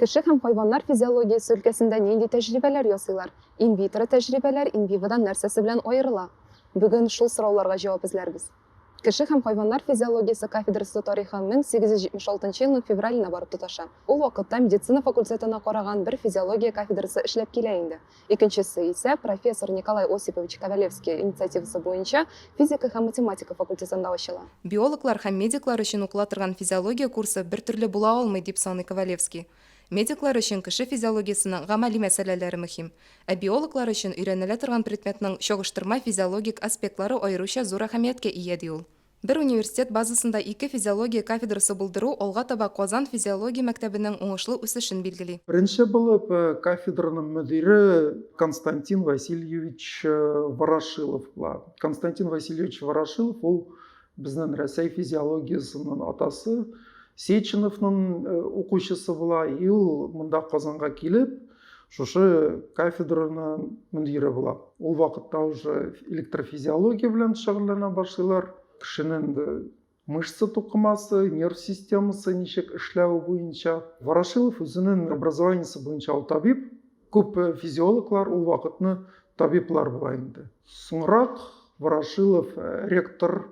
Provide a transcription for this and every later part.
Кеше һәм хайваннар физиологиясе өлкәсендә нинди тәҗрибәләр ясыйлар? Инвитро тәҗрибәләр инвиводан нәрсәсе белән аерыла? Бүген шул сорауларга җавап эзләрбез. Кеше һәм хайваннар физиологиясе кафедрасы тарихы 1876 елның февраленә барып тоташа. Ул вакытта медицина факультетына караган бер физиология кафедрасы эшләп килә инде. Икенчесе исә профессор Николай Осипович Ковалевский инициативасы буенча физика һәм математика факультетында ачыла. Биологлар һәм медиклар өчен укыла торган физиология курсы бертөрле була алмый, дип саный Ковалевский. Медиклар өчен кеше физиологиясенең гамәли мәсьәләләре мөһим, ә биологлар өчен өйрәнелә торган предметның чагыштырма физиологик аспектлары аеруча зур әһәмияткә ия, ди ул. Бер университет базасында ике физиология кафедрасы булдыру алга таба Казан физиология мәктәбенең уңышлы үсешен билгели. Беренче булып кафедраның мөдире Константин Васильевич Ворошилов була. Константин Васильевич Ворошилов ул безнең Рәсәй физиологиясеннән атасы Сеченовның укучысы була. И ул монда Казанга килеп, Шушы кафедраның мөдире була. Ул вакытта уже электрофизиология белән шөгыльләнә башлыйлар. Кешенең мышца тукымасы, нерв системасы ничек эшләве буенча. Ворошилов үзенең образованиесе буенча ул табиб. Күп э, физиологлар ул вакытны табиблар була инде. Соңрак Ворошилов э, ректор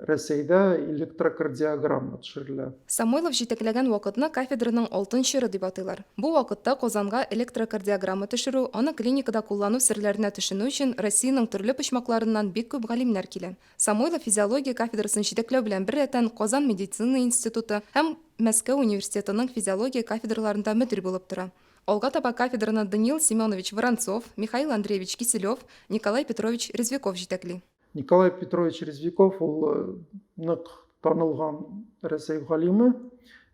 Рәсәйдә электрокардиограмма төшерелә. Самойлов җитәкләгән вакытны кафедраның алтын чоры дип атыйлар. Бу вакытта Казанга электрокардиограмма төшерү, аны клиникада куллану серләренә төшенү өчен Россиянең төрле почмакларыннан бик күп галимнәр килә. Самойлов физиология кафедрасын җитәкләү белән беррәтән Казан медицина институты һәм Мәскәү университетының физиология кафедраларында мөдир булып тора. Алга таба кафедраны Даниил Семенович Воронцов, Михаил Андреевич Киселев, Николай Петрович Резвяков җитәкли. Николай Петрович Резвиков ул э, нык танылган Рәсәй галиме,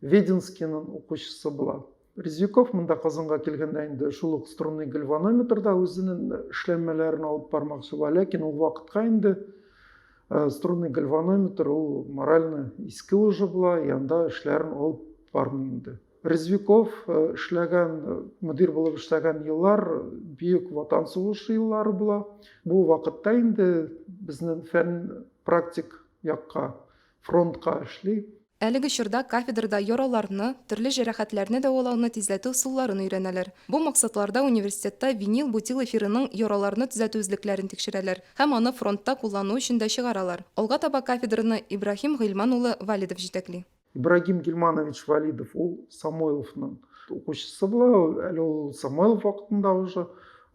Веденскийның укучысы була. Резвиков монда Казанга килгәндә инде шул ук струнный гальванометрда үзенең эшләнмәләрен алып бармакчы була, ләкин ул вакытка инде э, струнный гальванометр ул морально иске уже була, янда эшләрен алып бармый инде. Резвиков эшләгән, мөдир булып эшләгән еллар Бөек Ватан сугышы еллары була. Бу вакытта инде безнең фән практик якка, фронтка эшли. Әлеге чорда кафедрада яраларны, төрле җәрәхәтләрне дәвалауны тизләтү ысулларын өйрәнәләр. Бу максатларда университетта винил-бутил эфирының яраларны төзәтү эзлекләрен тикшерәләр һәм аны фронтта куллану өчен дә чыгаралар. Алга таба кафедраны Ибраһим Гыйльман улы Валидов җитәкли. Ибрагим Гильманович Валидов, ул Самойловның укучысы була, әле ул Самойлов вакытында уже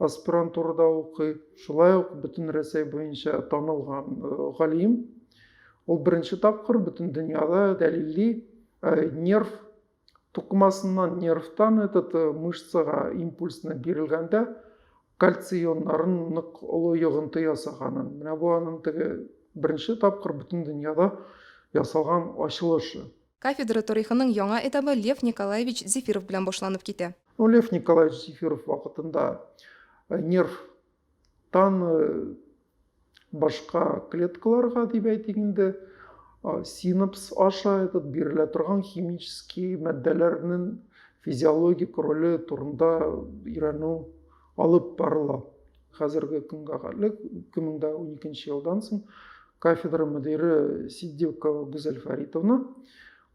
аспирантурада укый. Шулай ук бөтен Рәсәй буенча танылган э, галим. Ул беренче тапкыр бөтен дөньяда дәлилли э, нерв тукымасыннан, нервтан этот э, мышцага импульсны бирелгәндә кальций ионнарын нык олы йогынты ясаганын. Менә бу аның теге беренче тапкыр бөтен дөньяда ясалган ачылышы. Кафедра торихының яңа этабы Лев Николаевич Зефиров белән башланып китә. Ну, Лев Николаевич Зефиров вакытында нерв тан башка клеткаларга дип әйтик инде, синапс аша этот бирелә торган химический матдәләрнең физиологик роле турында өйрәнү алып барыла. Хәзерге көнгә кадәр 2012 елдан соң кафедра мөдире Сиддикова Гүзәл Фәритовна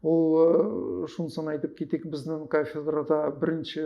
ул э, шунысын әйтеп китик, безнең кафедрада беренче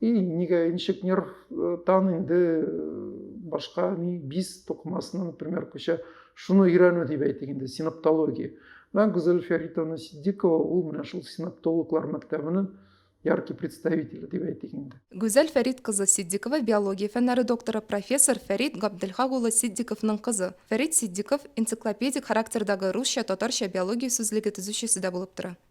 И нигә ничек нервтан инде э, башка ни бис тукмасына, например, күчә. Шуны өйрәнү дип әйтик инде, синаптология. Менә Гүзәл Фәритовна Сиддикова ул менә шул синаптологлар мәктәбенең яркий представителе дип әйтик инде. Гүзәл Фәрит кызы Сиддикова биология фәннәре докторы профессор Фәрит Габделхак улы Сиддиковның кызы. Фәрит Сиддиков энциклопедик характердагы русча-татарча биология сүзлеге төзүчесе дә булып тора.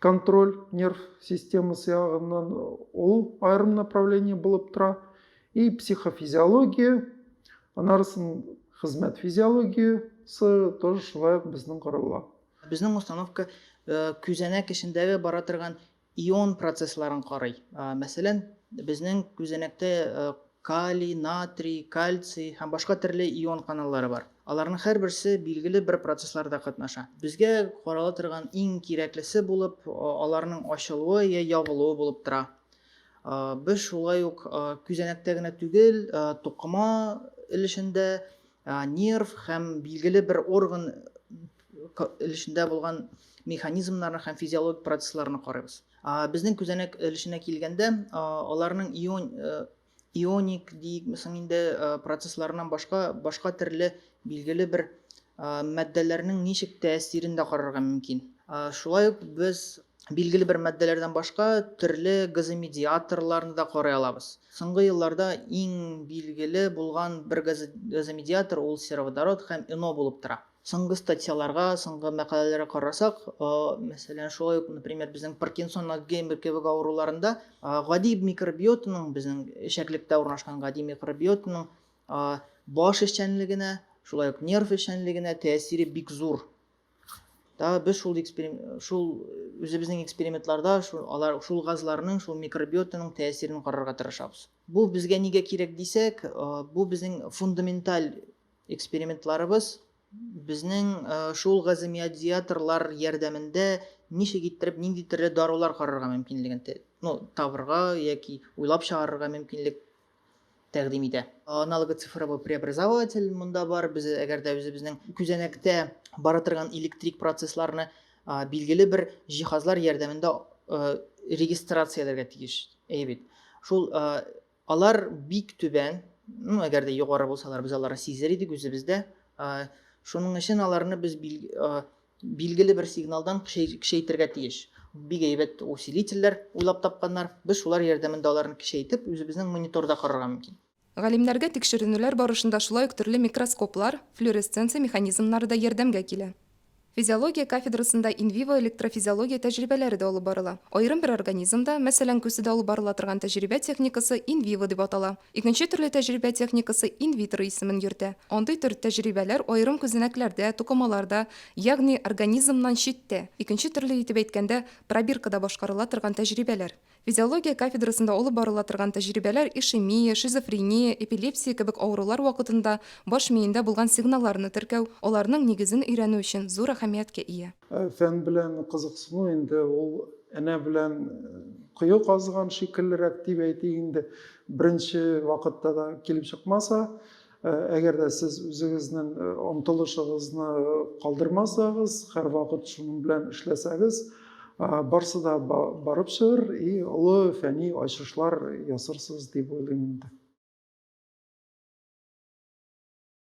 контроль нерв системасы ягыннан ул аерым направление булып тора и психофизиология анарысын хезмәт физиологиясы тоже шулай ук безнең карала безнең установка э, күзәнәк эчендәге бара торган ион процессларын карый мәсәлән безнең күзәнәктә э, Калий, натрий, кальций һәм башка төрле ион каналлары бар. Аларның һәрберсе билгеле бер процессларда катнаша. Безгә карала торган иң кирәклесе булып аларның ачылуы я ябылуы булып тора. Без шулай ук күзәнәктә генә түгел, тукыма өлешендә нерв һәм билгеле бер орган өлешендә булган механизмнарны һәм физиологик процессларны карыйбыз безнең күзәнәк өлешенә килгәндә аларның ион э, ионик диикме соң инде э, процессларыннан башка башка төрле билгеле бер мәддәләрнең ничек тәэсирен дә карарга мөмкин шулай ук без Билгеле бер матдәләрдән башка төрле газомедиаторларны да карый алабыз. Соңгы елларда иң билгеле булган бер газомедиатор ул сероводород һәм ИНО булып тора. Соңгы статьяларга, соңгы мәкаләләргә карасак, мәсәлән, шулай ук, например, безнең Паркинсон, Альцгеймер кебек авыруларында гади микробиотаның, безнең эчәклектә урнашкан гади микробиотаның баш эшчәнлегенә, шулай ук нерв эшчәнлегенә тәэсире бик зур. да без шул шул үзебезнең экспериментларда шул алар шул газларның шул микробиотаның тәэсирен карарга тырышабыз бу безгә нигә кирәк дисәк бу безнең фундаменталь экспериментларыбыз безнең шул газомиодиаторлар ярдәмендә ничек иттереп нинди төрле дарулар карарга мөмкинлеген ну табырга яки уйлап чыгарырга мөмкинлек тәкъдим итә. Аналоглы цифровой преобразователь монда бар. Без әгәр дә үзебезнең күзәнәктә бара торган электрик процессларны билгеле бер җиһазлар ярдәмендә регистрацияләргә тиеш. Әйе бит. Шул алар бик түбән, ну, әгәр дә югары булсалар, без аларны сизер идек үзебездә. Шуның өчен аларны без Билгеле бер сигналдан кешәйтергә тиеш. Бик әйбәт усилительләр уйлап тапканнар. Без шулар ярдәмендә аларны кешәйтеп, үзебезнең мониторда карарга мөмкин. Галимнәргә тикшеренүләр барышында шулай ук төрле микроскоплар, флюоресценция механизмнары да ярдәмгә килә. Физиология кафедрасында инвиво электрофизиология тәҗрибәләре дә алып барыла. Аерым бер организмда, мәсәлән, күседә алып барыла торган тәҗрибә техникасы инвиво дип атала. Икенче төрле тәҗрибә техникасы инвитро исемен йөртә. Андый төр тәҗрибәләр аерым күзәнәкләрдә, тукымаларда, ягъни организмнан читтә, икенче төрле итеп әйткәндә, пробиркада башкарыла торган тәҗрибәләр. Физиология кафедрасында алып барыла торган тәҗрибәләр ишемия, шизофрения, эпилепсия кебек авырулар вакытында баш миендә булган сигналларны теркәү, аларның нигезен өйрәнү өчен зур әһәмияткә ия. Э, фән белән кызыксыну инде ул энә белән э, кое казыган шикеллерәк дип әйтик инде беренче вакытта да килеп чыкмаса э, әгәр дә сез үзегезнең омтылышыгызны калдырмасагыз һәрвакыт шуның белән эшләсәгез барсы да барып чыгыр и олы фәни ачышлар ясарсыз дип уйлыйм инде